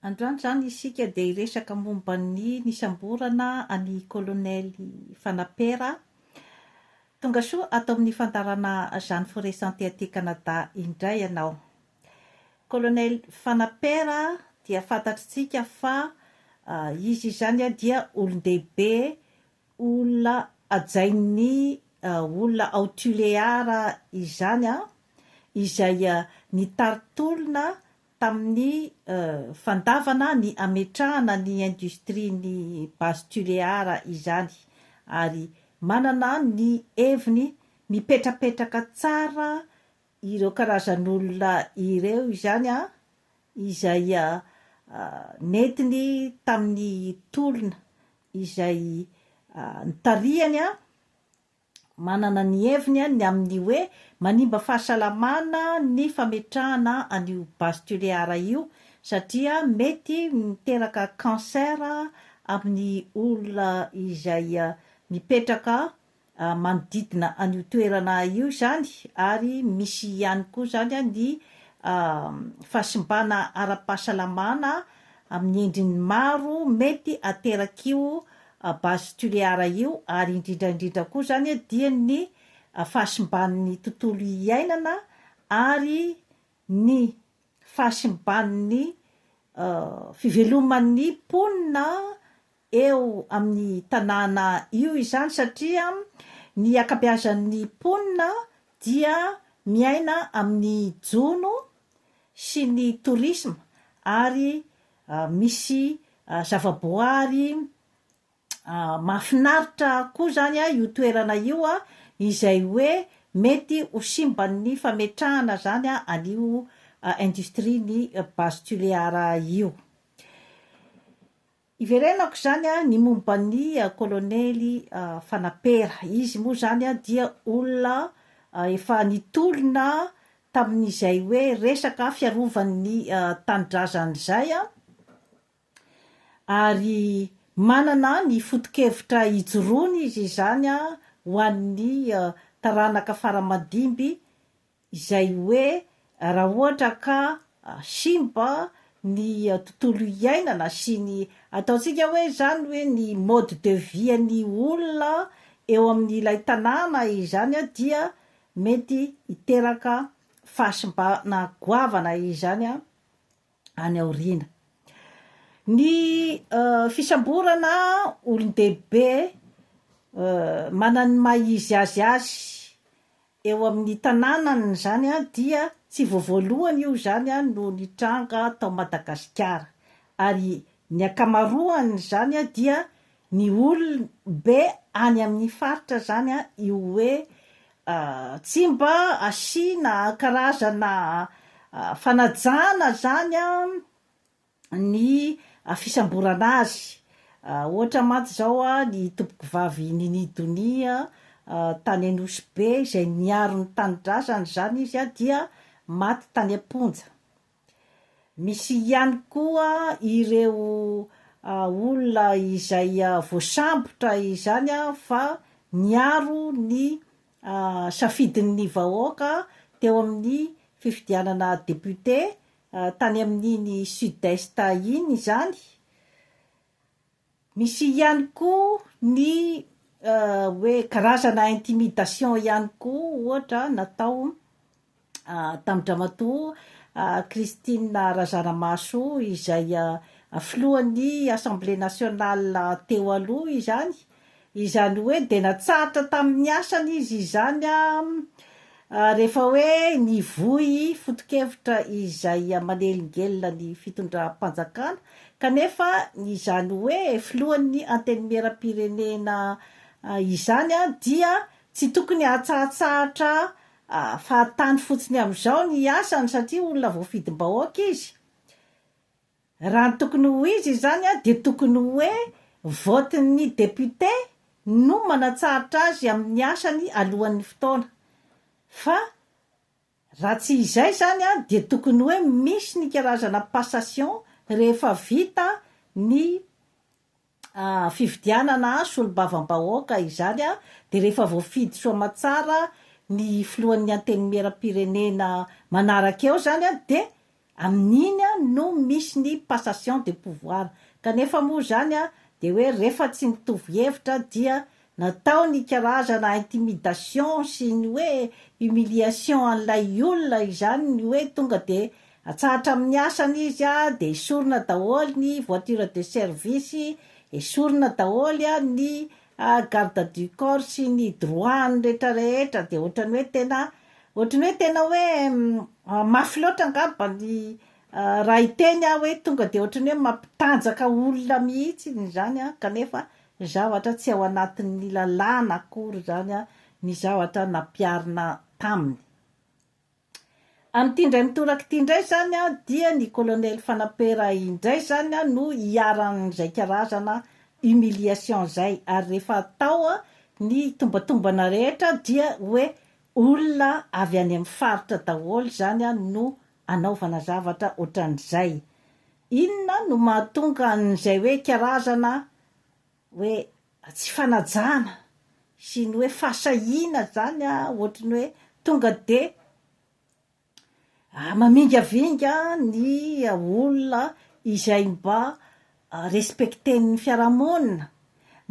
Androany izany isika dia hiresaka momba ny nisamborana an'i Kolonely Fanapera. Tonga soa ato amin'ny fandaharana Jeanne Forest Santé aty Canada indray ianao. Kolonely Fanapera dia fantatritsika fa izy izany dia olon-dehibe olona hajain'ny olona ao Tuléar izany izay nitari-tolona tamin'ny fandavana ny hametrahana ny indostrian'ny Base Tuléar izany ary manana ny heviny mipetrapetraka tsara ireo karazan'olona ireo izany an, izay nentiny tamin'ny tolona izay nitarihany an, manana ny heviny ny amin'ny hoe manimba fahasalamana ny fametrahana an'io base tulear io satria mety miteraka cancer amin'ny olona izay mipetraka manodidina an'io toerana io izany ary misy ihany koa izany ny fahasimbana ara-pahasalamana amin'ny endriny maro mety aterak'io base tuléar io ary indrindra indrindra koa izany dia ny fahasimban'ny tontolo iainana ary ny fahasimban'ny fiveloman'ny mponina eo amin'ny tanàna io izany satria ny ankabeazan'ny mponina dia miaina amin'ny jono sy ny tourisme ary misy zavaboary mahafinaritra koa izany io toerana io izay hoe mety ho simban'ny fametrahana izany an'io industrie-n'ny base tulear io. Iverenako izany ny momba ny kolonely Fanapera. Izy moa izany dia olona efa nitolona tamin'izay hoe resaka fiarovan'ny tanindrazany izay, ary manana ny foto-kevitra ijoroany izy izany ho an'ny taranaka fara-madimby izay hoe raha ohatra ka simba ny tontolo iainana sy ny ataontsika hoe izany hoe ny mode de vie an'ny olona eo amin'ilay tanàna izany dia mety hiteraka fahasimbana goavana izany any aoriana. Ny fisamborana olon-dehibe manana ny maha izy azy azy eo amin'ny tanànany izany dia tsy vao voalohany io izany no nitranga tao Madagasikara ary Ny ankamaroan' izany dia ny olon, be any amin' ny faritra izany io hoe Tsimba asiana karazana fanajana izany ny fisamborana azy. Ohatra mantsy izao ny Tompokovavy Nini Donia tany Anosibe izay niaro ny tanindrazany izany izy dia maty tany am-ponja. Misy ihany koa ireo olona izay voasambotra izany fa niaro ny safidin'ny vahoaka teo amin'ny fifidianana député tany amin'iny Sud-Est iny izany, Misy ihany koa ny hoe karazana intimidation ihany koa ohatra natao tamin-dramatoa Christine Razanamahaso izay filohan'ny Assemblée nationale teo aloha izany, Izany hoe dia natsahatra tamin'ny asany izy izany rehefa hoe nivoy foto-kevitra izay manelingelina ny fitondram-panjakana kanefa izany hoe filohan'ny antenimieram-pirenena izany dia tsy tokony hahatsahatsahatra fahatany fotsiny amin'izao ny asany satria olona voafidim-bahoaka izy Raha ny tokony ho izy izany dia tokony hoe vote-n'ny député no manatsahatra azy amin'ny asany alohan'ny fotoana. Fa raha tsy izay izany dia tokony hoe misy ny karazana passation rehefa vita ny fifidianana solombavambahoaka izany dia rehefa voafidy soa aman-tsara ny filohan'ny antenimieram-pirenena manaraka eo izany dia amin'iny no misy ny passation de pouvoir kanefa moa izany dia hoe rehefa tsy mitovy hevitra dia Natao ny karazana intimidation sy ny hoe humiliation an'ilay olona izany ny hoe tonga dia atsahatra amin'ny asany izy a, dia esorina daholo ny voiture de service, esorina daholo ny garde du corps sy ny droit-ny rehetra rehetra, dia ohatran'ny hoe tena, ohatran'ny hoe tena hoe mafy loatra angamba ny raha hiteny aho hoe tonga dia ohatran'ny hoe mampitanjaka olona mihitsy izany an, kanefa Ny zavatra tsy ao anatin'ny lalàna akory izany ny zavatra nampiharina taminy. Amin'ity indray mitoraka ity indray izany dia ny Kolonely Fanapera indray izany no iharan'izay karazana humiliation izay ary rehefa atao ny tombatombana rehetra dia hoe olona avy any amin'ny faritra daholo izany no anaovana zavatra ohatran'izay. Inona no mahatonga an'izay hoe karazana hoe tsy fanajana sy ny hoe fahasahiana izany ohatry ny hoe tonga dia mamingavinga ny olona izay mba respecter-n'ny fiarahamonina,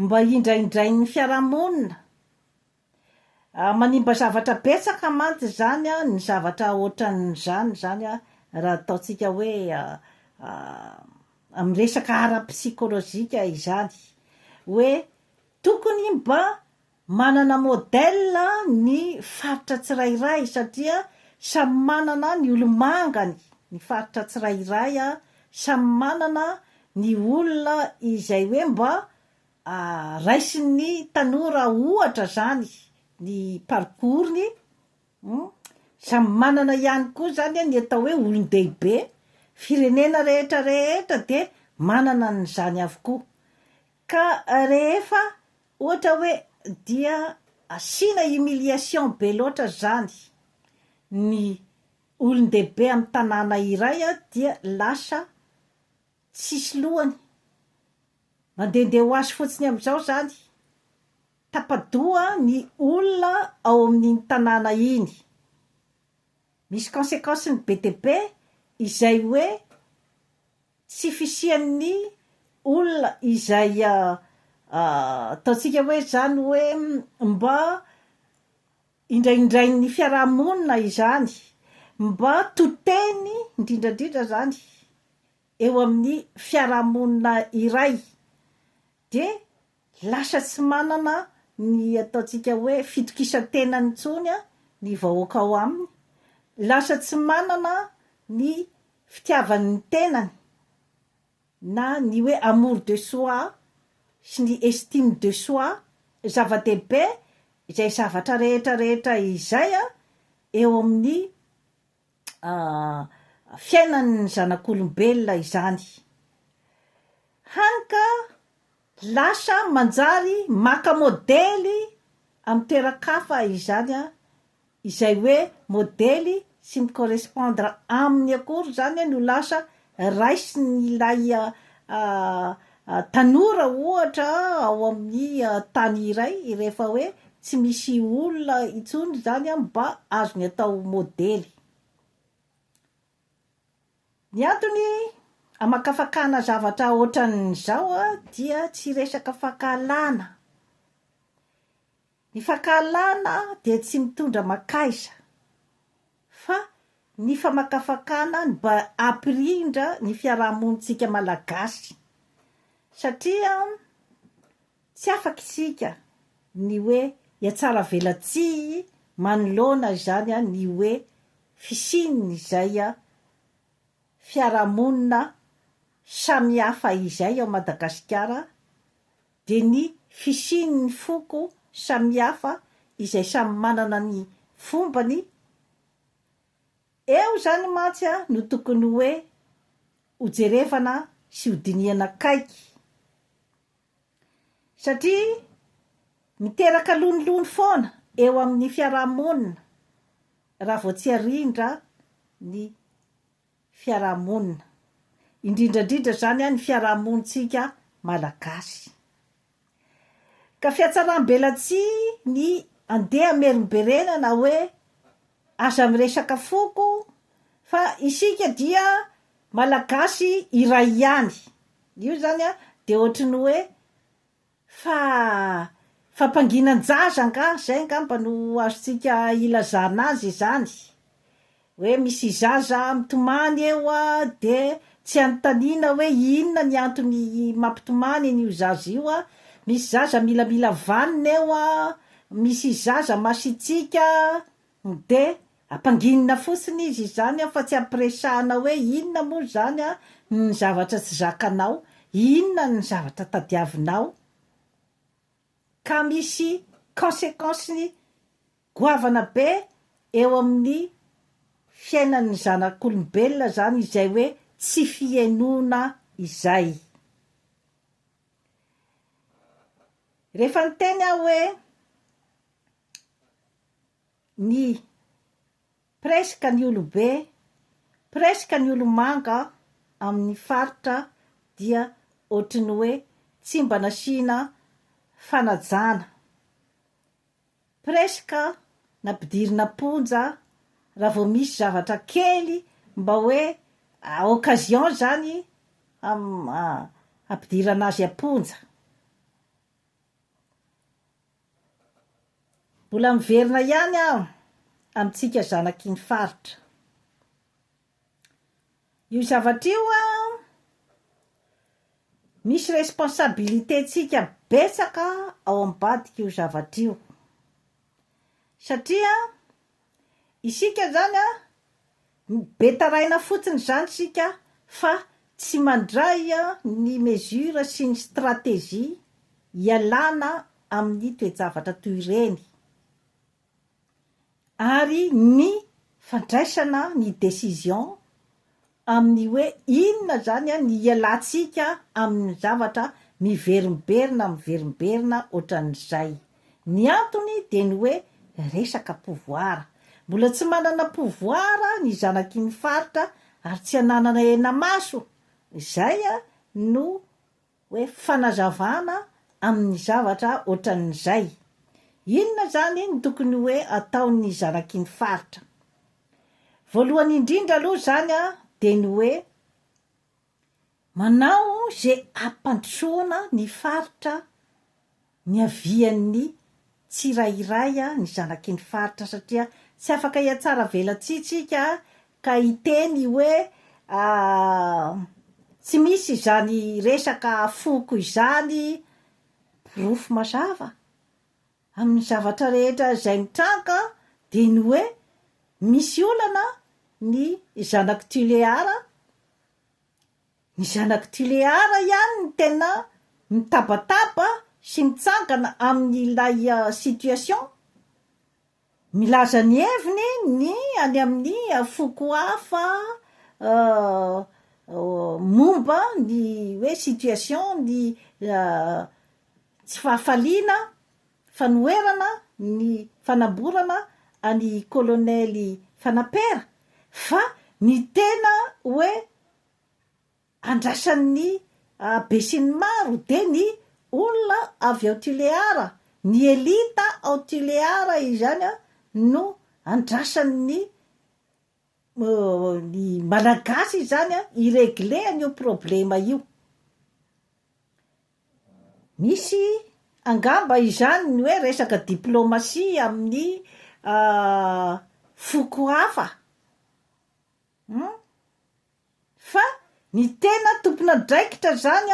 mba indraindrain'ny fiarahamonina? Manimba zavatra betsaka mantsy izany ny zavatra ohatran'izany izany raha ataontsika hoe amin'ny resaka ara-psychologique izany hoe tokony mba manana modèle ny faritra tsirairay satria samy manana ny olo-mangany ny faritra tsirairay, samy manana ny olona izay hoe mba Raisin'ny tanora ohatra zany ny parcours-ny, samy manana ihany koa zany ny atao hoe olon-dehibe, firenena rehetra rehetra dia manana an'izany avokoa, ka rehefa ohatra hoe dia asiana humiliation be loatra zany ny olon-dehibe amin'ny tanàna iray dia lasa tsisy lohany, Mandehandeha ho azy fotsiny amin'izao izany. Tapa-doha ny olona ao amin'iny tanàna iny. Misy consequence-ny be dia be izay hoe tsy fisian'ny olona izay ataontsika hoe izany hoe mba indraindrain'ny fiaraha-monina izany, mba to teny indrindrandrindra izany. eo amin'ny fiarahamonina iray dia lasa tsy manana ny ataontsika hoe fitokisan-tenany intsony ny vahoaka ao aminy, lasa tsy manana ny fitiavany ny tenany na ny hoe amour de soi sy ny estime de soi, zava-dehibe izay zavatra rehetra rehetra izay eo amin'ny fiainan'ny zanak'olombelona izany. Hany ka lasa manjary maka modely amin'ny toeran-kafa izany, izay hoe modely tsy mi-correspondre aminy akory izany no lasa Raisin'ilay tanora ohatra ao amin'ny tany iray rehefa hoe tsy misy olona intsony izany mba azony atao modely. Ny antony hamakafakana zavatra ohatran'izao dia tsy resaka fankahalana. Ny fankahalana dia tsy mitondra makaiza, fa ny famakafakana no mba hampirindra ny fiarahamonintsika Malagasy, satria tsy afaka isika ny hoe hiatsaravelatsihy manoloana izany ny hoe fisian' izay fiarahamonina samihafa izay ao Madagasikara, dia ny fisian'ny foko samihafa izay samy manana ny fombany, eo izany mantsy no tokony hoe hojerevana sy hodinihana akaiky, satria miteraka lonilony foana eo amin'ny fiaraha-monina raha vao tsy arindra ny. fiarahamonina, indrindrandridra zany ny fiarahamonintsika malagasy. Ka fiatsaram-belatsihy ny andeha hamerimberenana hoe aza miresaka foko fa isika dia malagasy iray ihany, io zany dia ohatry ny hoe Fa fampanginan-jaza angaha, zay angamba no azontsika ilazana azy izany, hoe misy zaza mitomany eo a, de tsy anontaniana hoe inona ny antony mampitomany an'io zaza io a, misy zaza milamila vanona eo a, misy zaza masitsiaka, de. Ampanginina fotsiny izy izany an fa tsy ampiresahana hoe inona moa izany an ny zavatra tsy zakanao, inona ny zavatra tadiavinao ka misy consequence-ny goavana be eo amin'ny fiainan'ny zanak'olombelona izany izay hoe tsy fihenoana izay. Rehefa niteny aho hoe ny presque ny olobe, presque ny olomanga amin'ny faritra dia ohatry ny hoe tsy mba nasiana fanajana, presque nampidirina am-ponja raha vao misy zavatra kely mba hoe occasion izany hampidirana azy am-ponja. Mbola miverina ihany aho amintsika zanaky ny faritra. Io zavatra io misy responsabilité-ntsika betsaka ao ambadik'io zavatra io satria Isika izany an, be taraina fotsiny izany isika fa tsy mandray ny mesures sy ny stratégies hialana amin'ny toe-javatra toy ireny ary ny fandraisana ny décisions amin'ny hoe inona izany ny hialantsika amin'ny zavatra miverimberina miverimberina ohatran'izay. Ny antony dia ny hoe resaka pouvoir. Mbola tsy manana pouvoir ny zanaky ny faritra ary tsy ananana henamaso. Izay no hoe fanazavana amin'ny zavatra ohatran'izay. Inona izany no tokony hoe ataon'ny zanak'iny faritra? Voalohany indrindra aloha izany dia ny hoe manao izay hampandrosoana ny faritra Niavian'ny tsirairay ny zanaky ny faritra satria tsy afaka hiatsara velatsihy tsika ka hiteny hoe tsy misy izany resaka foko izany porofo mazava amin'ny zavatra rehetra izay mitranga dia ny hoe misy olana ny zanak'i Tuléar Ny zanak'ity Lehara ihany no tena mitabataba sy mitsangana amin'ilay situation. Milaza ny heviny ny any amin'ny foko hafa momba ny hoe situation ny tsy fahafaliana. fanoherana ny fanamborana an'i kolonely Fanapera fa ny tena hoe andrasan'ny besinimaro dia ny olona avy ao Tuléar, ny elita ao Tuléar izany no andrasan'ny ny malagasy izany hi-regler an'io problema io. Misy angamba izany ny hoe resaka diplomasia amin'ny foko hafa hum fa ny tena tompon'andraikitra izany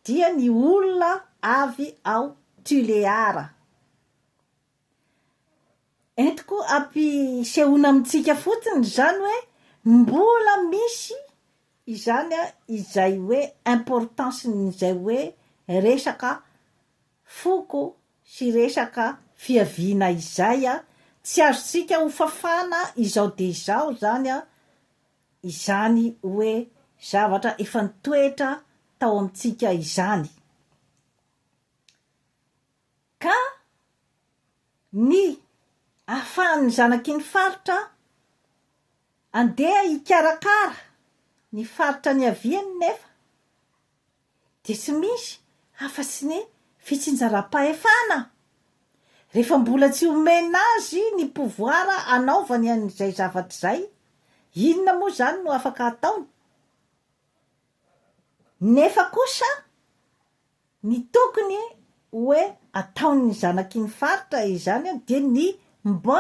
dia ny olona avy ao Tuléar. Entiko ampisehoana amintsika fotsiny izany hoe mbola misy izany izay hoe importance-n'izay hoe resaka foko sy resaka fiaviana izay, tsy azontsika hofafana izao dia izao izany izany hoe zavatra efa nitoetra tao amintsika izany. Ka ny ahafahan'ny zanaky ny faritra andeha hikarakara ny faritra niaviany nefa dia tsy misy afa-tsy ny fitsinjaram-pahefana rehefa mbola tsy omena azy ny pouvoir hanaovany an'izay zavatra izay, inona moa izany no afaka ataony? Nefa kosa. Ny tokony hoe ataon'ny zanakiny faritra izany dia ny mba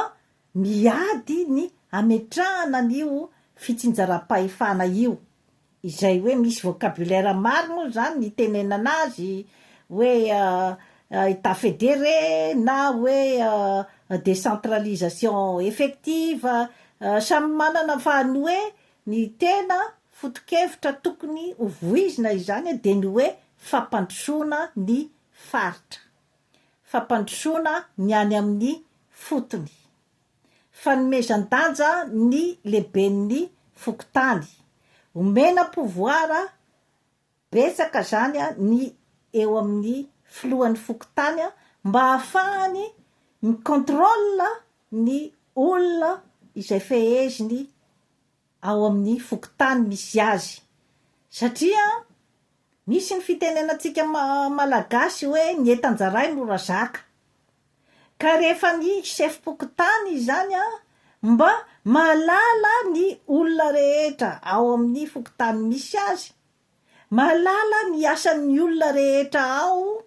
miady ny hametrahana an'io fitsinjaram-pahefana io, izay hoe misy vocabulaire maro moa izany nitenenana azy, hoe Etat fédéré na hoe décentralisation effective, samy manana fa ny hoe Ny tena fotokevitra tokony ho voizina izany dia ny hoe fampandrosoana ny faritra, fampandrosoana ny any amin'ny fotony, fanomezan-danja ny lehiben'ny fokontany, omena pouvoir Betsaka zany ny eo amin'ny filohan'ny fokontany mba hahafahany mi-contrôle ny olona izay feheziny ao amin'ny fokontany misy azy satria misy ny fitenenantsika malagasy hoe ny entan-jaray mora zaka ka rehefa ny sefom-pokontany izany mba mahalala ny olona rehetra ao amin'ny fokontany misy azy Mahalala ny asan'ny olona rehetra ao,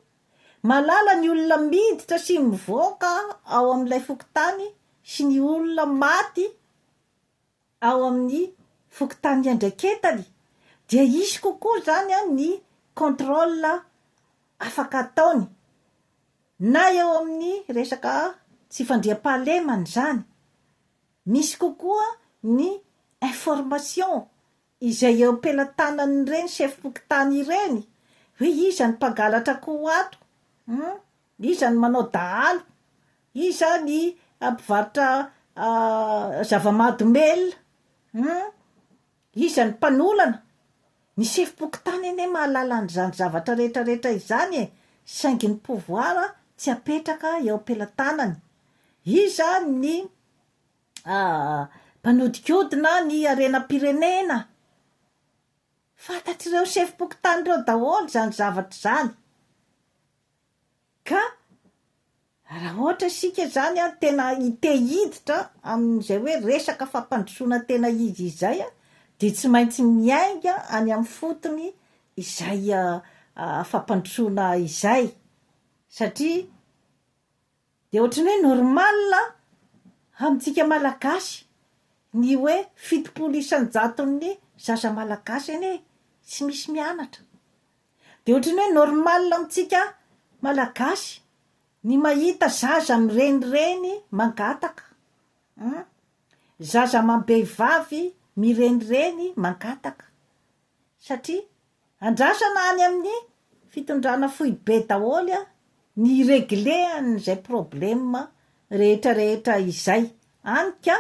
mahalala ny olona miditra sy mivoaka ao amin'ilay fokontany sy ny olona maty ao amin'ny fokontany iandraiketany dia hisy kokoa izany ny contrôle afaka ataony na eo amin'ny resaka tsy fandriampahalemana izany, misy kokoa ny information izay eo am-pelatanan'ireny sefom-pokontany ireny hoe iza ny mpangalatra akoho ato, hum, iza ny manao dahalo, iza ny mpivarotra zava-mahadomelina, hum, iza ny mpanolana, ny sefom-pokontany anie mahalala an'izany zavatra rehetra rehetra izany e, saingy ny pouvoir tsy apetraka eo am-pelatanany, iza ny. mpanodikodina ny harenam-pirenena. Fantatr'ireo sefom-pokontany ireo daholo izany zavatra izany. Ka raha ohatra isika izany an, tena te hiditra amin'izay hoe resaka fampandrosoana tena izy izay an, dia tsy maintsy miainga any amin'ny fotony izay fampandrosoana izay, satria Dia ohatran'ny hoe normal amintsika Malagasy ny hoe fitopolo isan-jaton'ny zaza Malagasy anie tsy misy mianatra. Dia ohatran'ny hoe normal amintsika Malagasy ny mahita zaza mirenireny mangataka an! Zaza amam-behivavy mirenireny mangataka satria Andrasana any amin'ny fitondrana foibe daholo ny hi-regler an'izay problème rehetra rehetra izay, any ka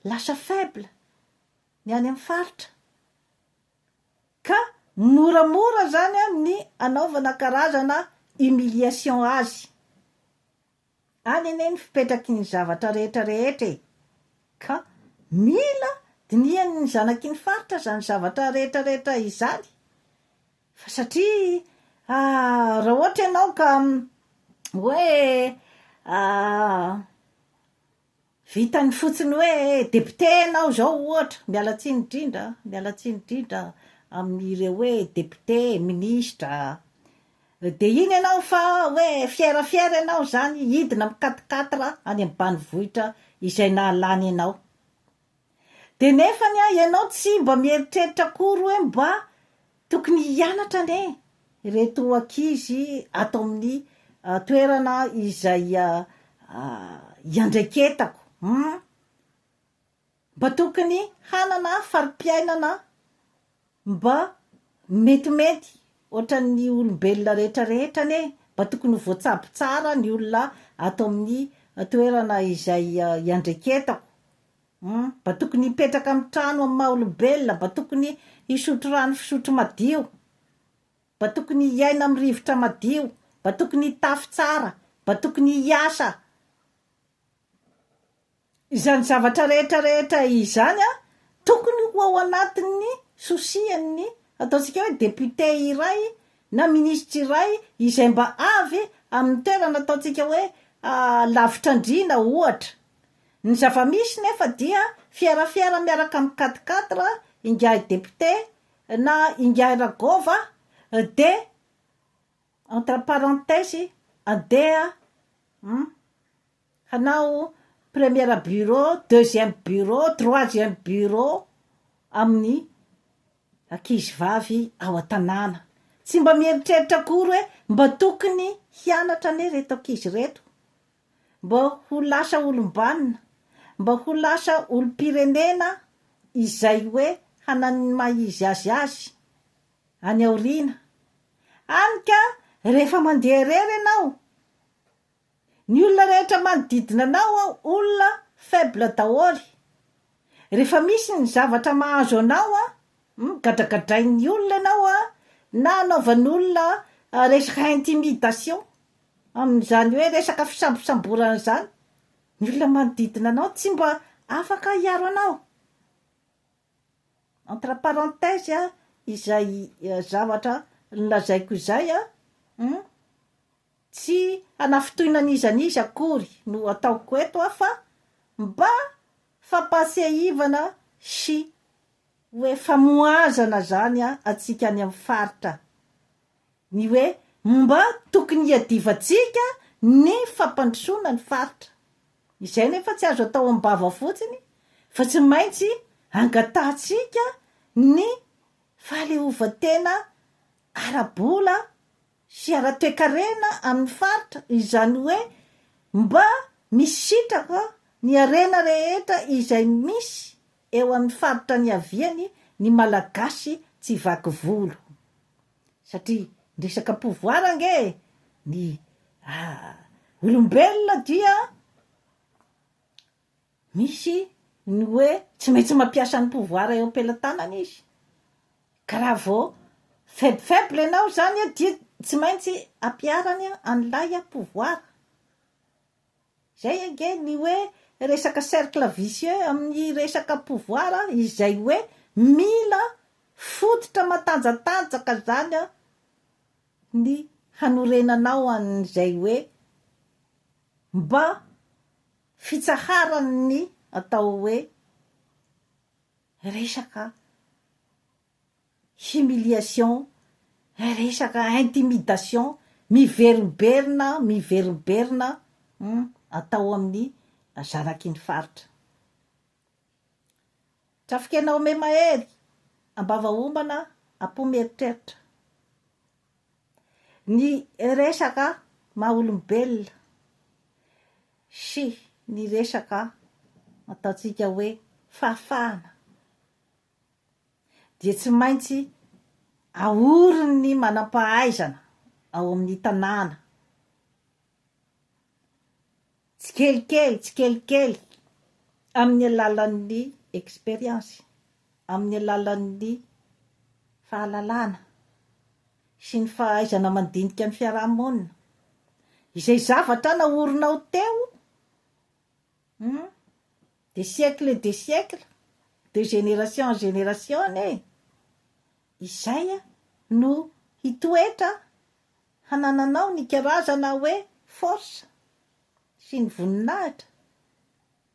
lasa faible ny any amin'ny faritra, ka moramora zany ny anaovana karazana humiliation azy. Any anie ny fipetraky ny zavatra rehetra rehetra e! Ka mila dinihany ny zanaky ny faritra izany zavatra rehetra rehetra izany fa satria raha ohatra ianao ka hoe Vitany fotsiny hoe député ianao izao ohatra, miala tsiny indrindra an, miala tsiny indrindra amin'ireo hoe député, ministra, dia iny ianao fa hoe fier fier ianao izany hidina amin'ny quatre quatre any amin'ny banivohitra izay nahalany anao. Dia nefany an, ianao tsy mba mieritreritra akory hoe mba tokony hianatra anie ireto ankizy ato amin'ny toerana izay iandraiketako hum! Mba tokony hanana fari-piainana Mba metimety ohatran'ny olombelona rehetra rehetra anie mba tokony ho voatsabo tsara ny olona ato amin'ny toerana izay iandreketako humm mba tokony hipetraka amin'ny trano amin'ny maha olombelona mba tokony hisotro rano fisotro madio mba tokony hiaina amin'ny rivotra madio mba tokony hitafy tsara mba tokony hiasa Izany zavatra rehetra rehetra izany tokony ho ao anatin'ny souci-n'ny ataontsika hoe député iray na ministra iray izay mba avy amin'ny toerana ataontsika hoe lavitr'andriana ohatra. Ny zava-misy nefa dia fierafiera miaraka amin'ny quatre quatre ingahy député na ingahy Ragôva dia. Entre parenthèses, andeha an! hanao première bureau, deuxième bureau, troisième bureau amin'ny ankizy vavy ao an-tanàna. Tsy mba mieritreritra akory hoe mba tokony hianatra anie ireto ankizy ireto, mba ho lasa olom-banona, mba ho lasa olom-pirenena izay hoe hanan'ny maha-izy azy azy. any aoriana, hany ka rehefa mandeha irery ianao, ny olona rehetra manodidina anao an, olona faible daholo, rehefa misy ny zavatra mahazo anao an, hum, gadragadrain'ny olona ianao an, na anaovan'olona resaka intimidation, amin'izany hoe resaka fisambosamborana izany, ny olona manodidina anao tsy mba afaka hiaro anao. entre parenthèse izay zavatra nolazaiko izay an, tsy hanafintohina an'iza an'iza akory no ataoko eto fa mba fampahatsiahivana sy hoe famohazana izany antsika any amin'ny faritra ny hoe mba tokony hiadivantsika ny fampandrosoana ny faritra. Izay nefa tsy azo atao am-bava fotsiny fa tsy maintsy angatahantsika ny fahaleovantena ara-bola sy ara-toekarena amin'ny faritra, izany hoe mba misitraka ny harena rehetra izay misy eo amin'ny faritra niaviany ny Malagasy tsy vaky volo. satria ny resaka pouvoir ange ny olombelona dia misy ny hoe tsy maintsy mampiasa ny pouvoir eo am-pelatanany izy ka raha vao faible faible ianao zany dia tsy maintsy ampiharany an'ilay pouvoir Zay ange ny hoe resaka cercle vicieux amin'ny resaka pouvoir izay hoe mila fototra matanjatanjaka zany ny hanorenanao an'izay hoe mba fitsaharan'ny atao hoe resaka humiliation, resaka intimidation miverimberina miverimberina hum atao amin'ny zanaky ny faritra. Trafikena ome mahery ambava homana apo mieritreritra. Ny resaka maha olombelona sy ny resaka ataontsika hoe fahafahana. dia tsy maintsy ahorin'ny manam-pahaizana ao amin'ny tanàna tsikelikely tsikelikely amin'ny alalan'ny expérience, amin'ny alalan'ny fahalalana sy ny fahaizana mandinika ny fiaraha-monina, izay zavatra nahorinao teo, Hum. Des siècles et des siècles, de génération en génération anie izay no hitoetra hanananao ny karazana hoe force sy ny voninahitra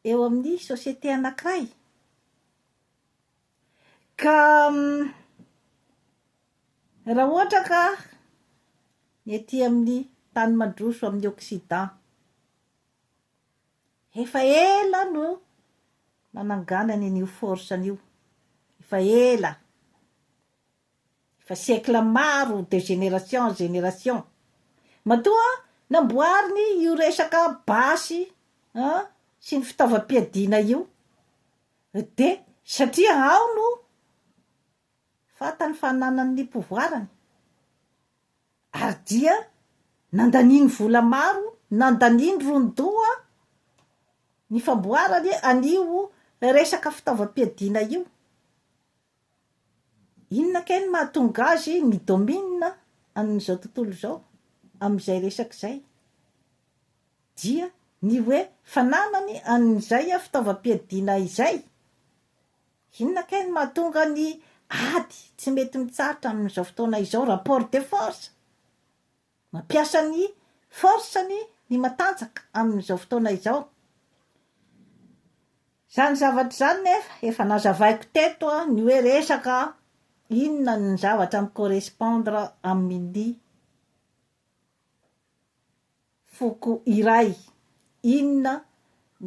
eo amin'ny société anankiray. Ka raha ohatra ka ny aty amin'ny tany mandroso amin'ny occident, Efa ela no nananganany an'io force an'io, efa ela, efa siècle maro de génération en génération. Matoa namboariny io resaka basy an sy ny fitaovam-piadiana io de satria ao no fantany fa ananany ny pouvoirany. Ary dia nandaniany vola maro, nandaniany ron-doha ny famboarany an'io resaka fitaovam-piadiana io. Inona kay no mahatonga azy mi-domine amin'izao tontolo izao, amin'izay resaka izay? Dia ny hoe fananany an'izay fitaovam-piadiana izay. Inona kay no mahatonga ny ady tsy mety mitsahatra amin'izao fotoana izao? Rapport de force. Mampiasa ny force-ny ny matanjaka amin'izao fotoana izao. Izany zavatra izany nefa efa nazavaiko teto ny hoe resaka inona ny zavatra mi-correspondre amin'ny foko iray, inona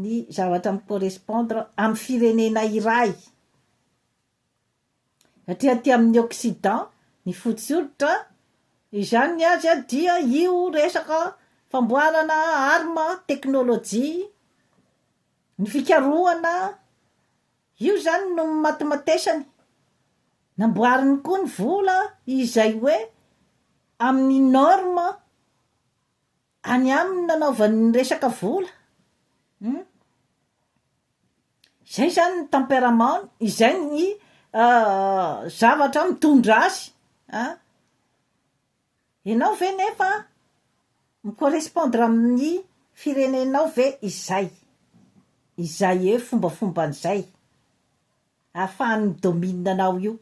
ny zavatra mi correspondre amin'ny firenena iray, satria aty amin'ny occident ny fotsy hoditra izany ny azy dia io resaka famboarana arme, teknolojia, ny fikarohana, io zany no nimatimatesany, namboariny koa ny vola izay hoe amin'ny norme. any aminy nanaovany ny resaka vola um zay zany ny temperament-ny, izay ny zavatra mitondra azy an, ianao ve nefa mi correspondre amin'ny firenenao ve izay, izay eo fombafomban'izay. ahafahany mi-domine anao io.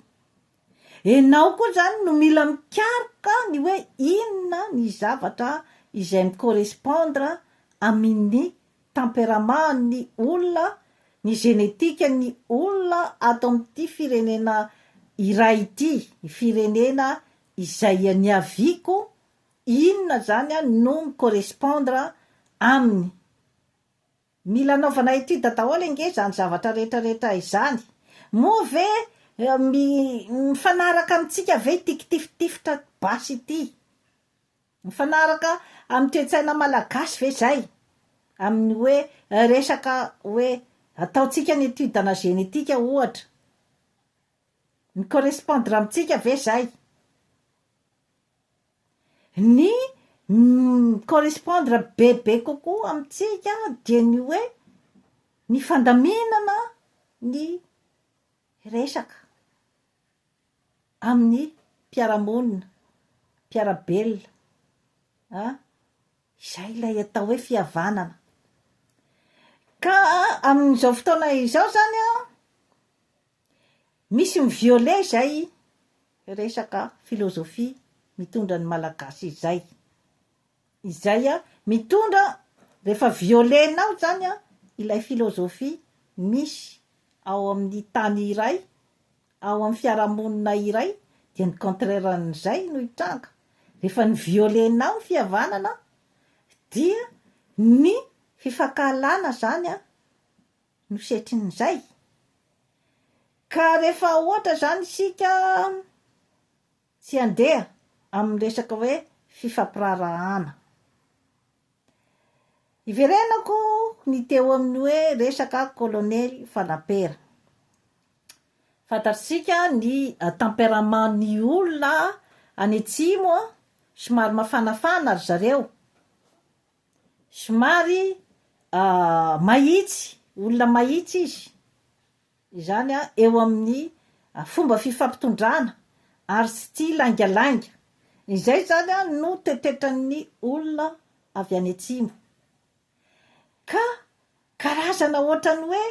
Enao koa zany no mila mikaroka ny hoe inona ny zavatra izay mi-correspondre aminny tempérament ny olona, ny génétique ny olona ato aminity firenena iray ity, ny firenena izay niaviako, inona zany no mi-correspondre aminy. Mila anaovana étude daholo ange izany zavatra rehetra rehetra izany. Moa ve mifanaraka amintsika ve ity kitifitifitra basy ity? Mifanaraka amin'ny toe-tsaina malagasy ve izay? Amin'ny hoe resaka hoe ataontsika ny étude ana génétique ohatra. Mi-correspondre amintsika ve izay? Ny mi-correspondre bebe kokoa amintsika dia ny hoe ny fandaminana ny resaka amin'ny mpiara-monina, mpiara-belona an, izay ilay atao hoe fihavanana. Ka amin'izao fotoana izao izany an, Misy mi-violer izay resaka philosophie mitondra ny malagasy izay. Izay an, mitondra rehefa violer-nao izany an, ilay philosophie misy ao amin'ny tany iray, ao amin'ny fiarahamonina iray dia ny contraire an'izay no hitranga. Rehefa ny violer-nao ny fihavanana dia ny fifankahalana izany an, no setrin'izay. Ka rehefa ohatra izany isika tsy handeha amin'ny resaka hoe fifampiraharahana. Iverenako ny teo amin'ny hoe resaka kolonely fanampera. Fantatr'isika ny tempérament ny olona any atsimo somary mafanafana ry zareo, somary mahitsy, olona mahitsy izy, izany an, eo amin'ny fomba fifampitondrana ary tsy tia laingalainga, izay izany an, no tetetran'ny olona avy any atsimo, ka karazana ohatran'ny hoe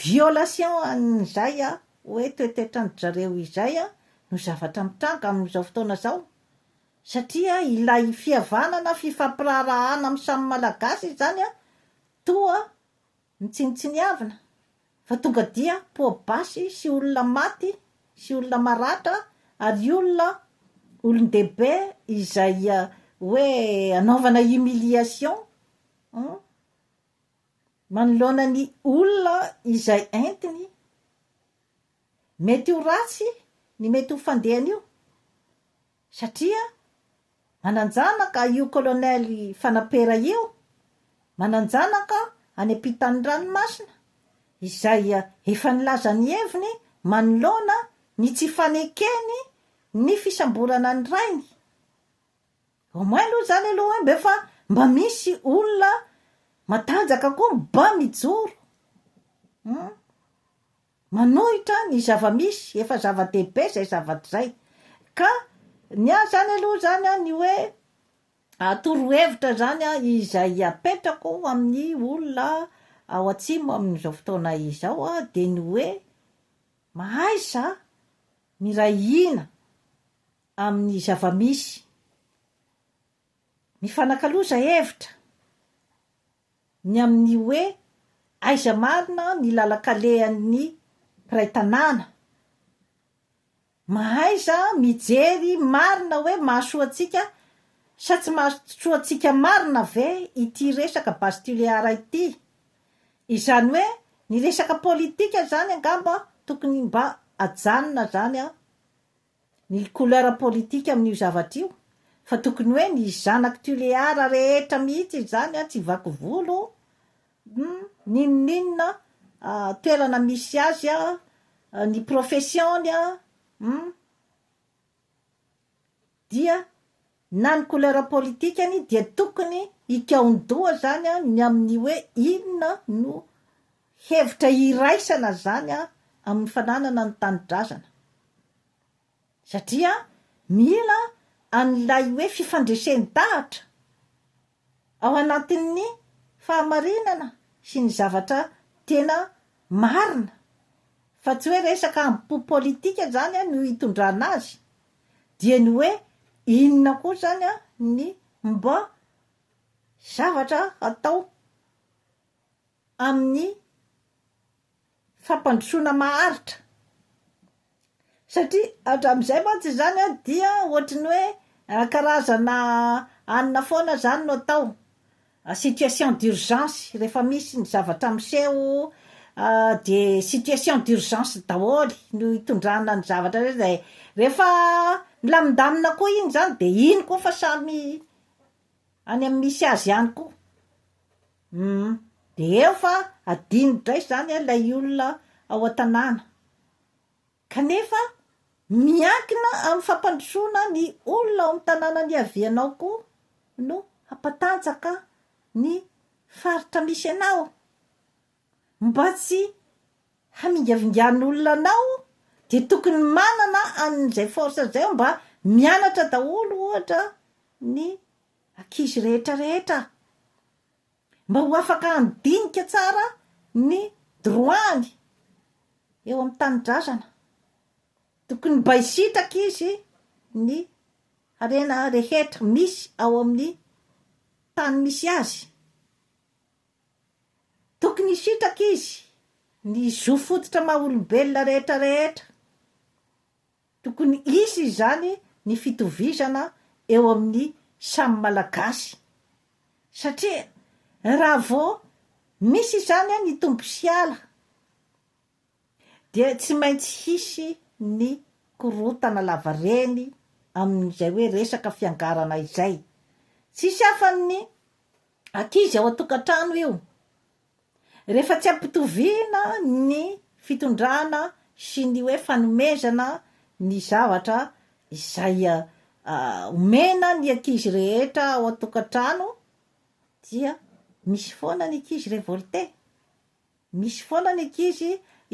violation an'izay an, hoe toetetra an-dry zareo izay an, no zavatra mitranga amin'izao fotoana izao. Satria ilay fihavanana, fifampiraharahana amin'ny samy Malagasy izany toa mitsinontsiniavina fa tonga dia poa-basy sy olona maty sy olona maratra ary olona olon-dehibe izay hoe anaovana humiliation manoloana ny olona izay entiny. Mety ho ratsy ny mety ho fandehan'io. Satria mananjanaka io colonel fanapera io, mananjanaka any ampitan'ny ranomasina, izay efa nilaza ny heviny manoloana ny tsy fanekeny ny fisamborana ny rainy. Au moins aloha izany aloha hoe mba fa mba misy olona matanjaka koa mba mijoro. Hum. Manohitra ny zava-misy, efa zava-dehibe izay zavatra izay. Ka ny ahy izany aloha izany an, ny hoe torohevitra izany an, izay apetrako amin'ny olona ao Atsimo amin'izao fotoana izao an, dia ny hoe, mahaiza miray hina amin'ny zava-misy. Mifanakaloza hevitra ny amin'ny hoe aiza marina ny lalan-kalehan'ny mpiray tanàna. Mahaiza mijery marina hoe mahasoa antsika sa tsy mahasoa antsika marina ve ity resaka base tulear ity. Izany hoe ny resaka politika izany angamba tokony mba ajanona izany an! ny couleur politique amin'io zavatra io fa tokony hoe ny zanak'i Tuléar rehetra mihitsy izany an tsy vaky volo humm n'inon'inona toerana misy azy an ny profession-ny an humm dia na ny couleur politikany dia tokony hikaon-doha zany ny amin'ny hoe inona no hevitra hiraisana zany amin'ny fananana ny tanidrazana satria mila an'ilay hoe fifandresen-dahatra ao anatin'ny fahamarinana sy ny zavatra tena marina fa tsy hoe resaka ambo-po politika izany no hitondrana azy dia ny hoe inona koa izany ny mba zavatra atao amin'ny fampandrosoana maharitra. Satria hatramin'izay mantsy izany a dia ohatry ny hoe karazana anona foana izany no atao, situation d'urgence rehefa misy ny zavatra miseho de situation d'urgence daholo no itondrana ny zavatra rehetra izay, rehefa milamindamina koa iny izany de iny koa fa samy any amin'ny misy azy ihany koa. Humm de eo fa adino dray zany a lay olona ao an-tanàna kanefa miankina amin'ny fampandrosoana ny olona ao amin'ny tanàna niavianao koa no hampatanjaka ny faritra misy anao mba tsy hamingavingan'olona anao dia tokony manana an'izay force zay aho mba mianatra daholo ohatra ny ankizy rehetra rehetra mba ho afaka handinika tsara ny droit-ny eo amin'ny tanindrazana. Tokony mba hisitraka izy ny harena rehetra misy ao amin'ny tany misy azy. Tokony hisitraka izy ny zo fototra maha olombelona rehetra rehetra. Tokony hisy izany ny fitovizana eo amin'ny samy Malagasy satria raha vao misy izany ny Tompo hiala dia tsy maintsy hisy ny korontana lavareny amin'izay hoe resaka fiangarana izay. Tsisy afa-ny ankizy ao an-tokantrano io Rehefa tsy ampitoviana ny fitondrana sy ny hoe fanomezana ny zavatra izay omena ny ankizy rehetra ao an-tokantrano dia misy foana ny ankizy revolte, misy foana ny ankizy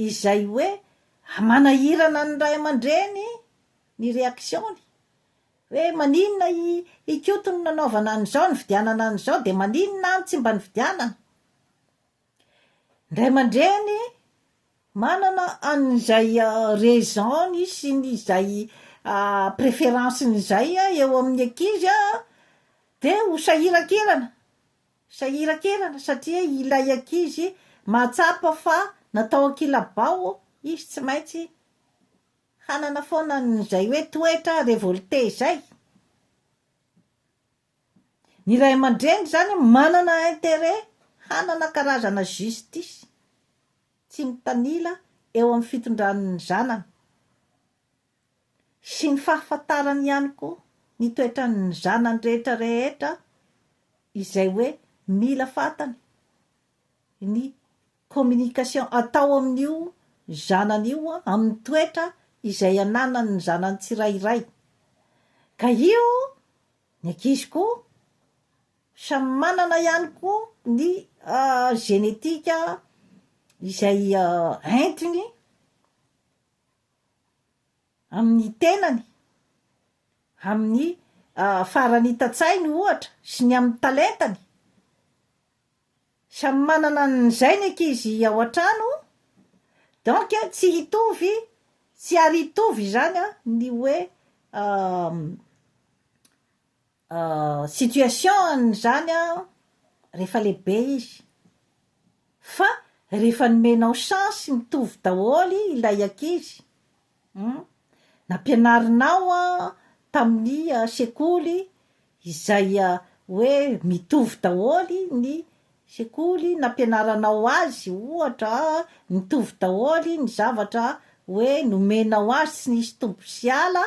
izay hoe manahirana ny ray aman-dreny ny reaction-ny. hoe maninona i Ikoto no nanaovana an'izao, nividianana an'izao, dia maninona any tsy mba nividianana? Ny ray aman-dreny manana an'izay raison-ny sy ny izay préférence-ny izay eo amin'ny ankizy dia ho sahiran-kirana, sahiran-kirana satria ilay ankizy mahatsapa fa natao an-kilabao izy tsy maintsy. Hanana foana an'izay hoe toetra revolte izay. Ny ray aman-dreny izany manana intérêt hanana karazana justice tsy mitanila eo amin'ny fitondran'ny zanany sy ny fahafantarany ihany koa ny toetran'ny zanany rehetra rehetra izay hoe mila fantany ny communication atao amin'io zanany io amin'ny toetra izay ananany ny zanany tsirairay. Ka io ny ankizy koa samy manana ihany koa ny génétique izay entiny amin'ny tenany, amin'ny faran'ita-tsainy ohatra sy ny amin'ny talentany. Samy manana an'izay ny ankizy ao an-trano, donc tsy hitovy, tsy ary hitovy izany ny hoe situation-n'izany rehefa lehibe izy, fa rehefa nomenao chance mitovy daholo ilay ankizy, Hum, nampianarinao tamin'ny sekoly izay hoe mitovy daholo ny sekoly nampianaranao azy ohatra mitovy daholo ny zavatra hoe nomenao azy tsy nisy tombo sy ala,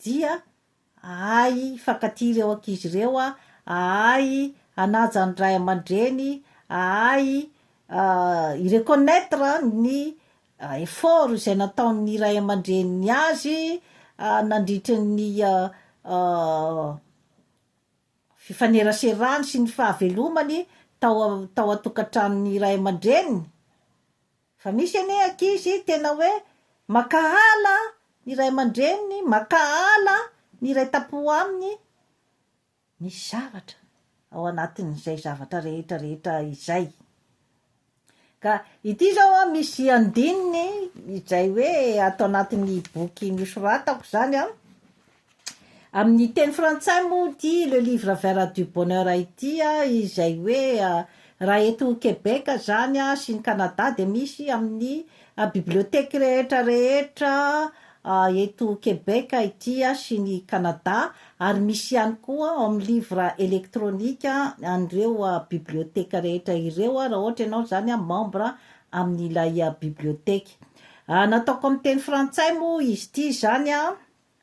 dia ahay hifankatia ireo ankizy ireo, ahay hanaja ny ray aman-dreny, ahay hi-reconnaitre ny effort izay nataon'ny ray aman-dreniny azy nandritry ny fifaneraserany sy ny fahavelomany tao a-tao an-tokantranon'ny ray aman-dreniny, Fa misy anie ankizy tena hoe mankahala ny ray aman-dreniny, mankahala ny iray tampo aminy. Misy zavatra ao anatin'izay zavatra rehetra rehetra izay. Ka ity izao misy andininy izay hoe ato anatin'ny boky nosoratako izany an. Amin'ny teny frantsay moa ity Le Livre Vert du Bonheur ity izay hoe raha eto Québec izany sy ny Canada dia misy amin'ny bibliothèque rehetra rehetra eto Québec ity sy ny Canada ary misy ihany koa en livre électronique an'ireo bibliothèque rehetra ireo raha ohatra ianao izany membre amin'ilay bibliothèque nataoko amin'ny teny frantsay moa izy ity izany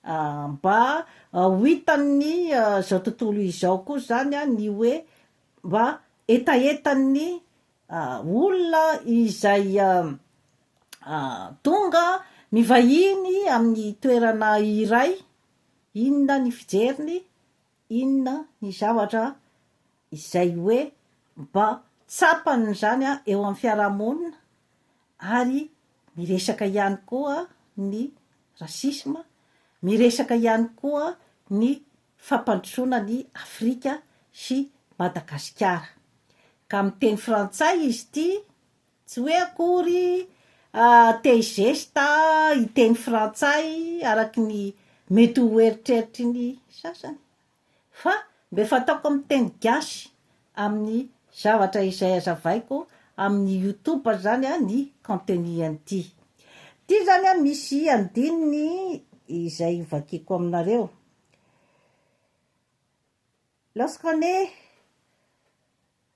Mba ho hitan'ny izao tontolo izao koa izany ny hoe mba hetahetan'ny olona izay tonga mivahiny amin'ny toerana iray, inona ny fijeriny? Inona ny zavatra izay hoe mba tsapany izany eo amin'ny fiarahamonina ary miresaka ihany koa ny racisme, miresaka ihany koa ny fampandrosoana an'i Afrika sy Madagasikara. Ka miteny frantsay izy ity. Tsy hoe akory te-hi gesta hiteny frantsay araky ny mety ho eritreritry ny sasany, fa mbe fataoko amin'ny teny gasy amin'ny zavatra izay hazavaiko amin'ny youtube zany ny contenu an'ity. Ity zany misy andininy izay hovakiko aminareo. Lorsqu'on est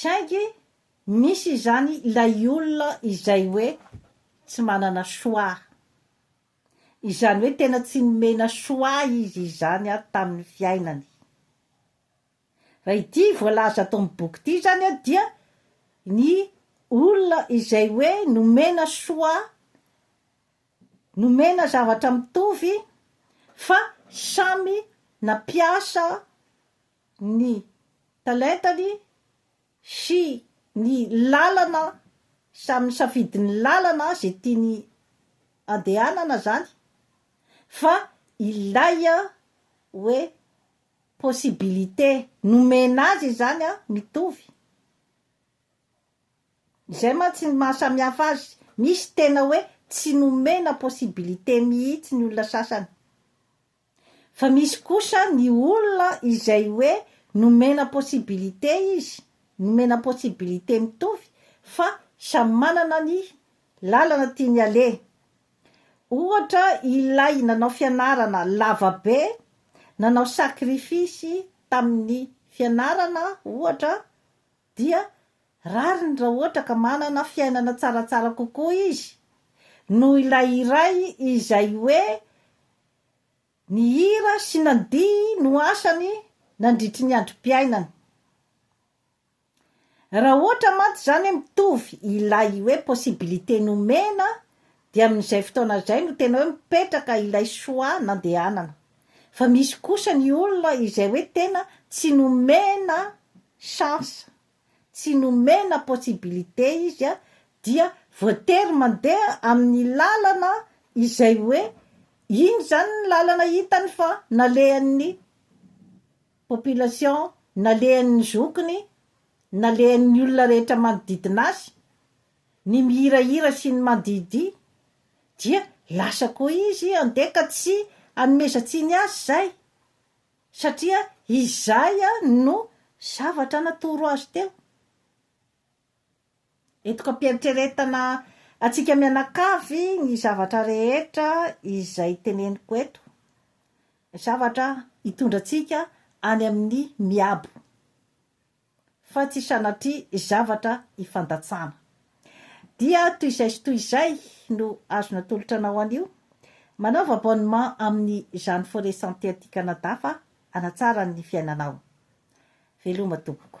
Saingy misy izany ilay olona izay hoe tsy manana choix. Izany hoe tena tsy nomena choix izy izany ary tamin'ny fiainany. Raha ity voalaza ato amin'ny boky ity izany an dia ny olona izay hoe nomena choix, nomena zavatra mitovy fa samy nampiasa ny talentany sy ny lalana samy nisafidy ny lalana zay tiany andehanana zany fa ilay hoe possibilité nomena azy izany mitovy izay mantsy ny maha samy hafa azy misy tena hoe tsy nomena possibilité mihitsy ny olona sasany Fa misy kosa ny olona izay hoe nomena possibilité izy, nomena possibilité mitovy fa samy manana ny lalana tiany aleha. Ohatra ilay nanao fianarana lava be, nanao sacrifice tamin'ny fianarana ohatra Dia rariny raha ohatra ka manana fiainana tsaratsara kokoa izy noho ilay iray izay hoe ny hira sy nandihy no asany nandritry ny androm-piainany. Raha ohatra mantsy izany mitovy ilay hoe possibilité nomena Dia amin'izay fotoana izay no tena hoe mipetraka ilay choix nandehanana. Fa misy kosa ny olona izay hoe tena tsy nomena chance, tsy nomena possibilité izy a, dia voatery mandeha amin'ny lalana izay hoe iny izany ny lalana hitany fa nalehan'ny population, nalehan'ny zokiny, nalehan'ny olona rehetra manodidina azy. ny mihirahira sy ny mandihidihy, dia lasa koa izy handeha ka tsy hanomezan-tsiny azy izay, satria izay no zavatra natoro azy teo. Etoka am-pieritreretana antsika mianakavy ny zavatra rehetra izay teneniko eto, zavatra hitondra antsika any amin'ny miabo. fa tsy sanatria zavatra ifandatsana. Dia toy izay sy toy izay no azo natolotra anao anio. Manaova abonnement amin'ny Jeanne Forêt Santé aty Canada fa hanatsara ny fiainanao. Veloma tompoko.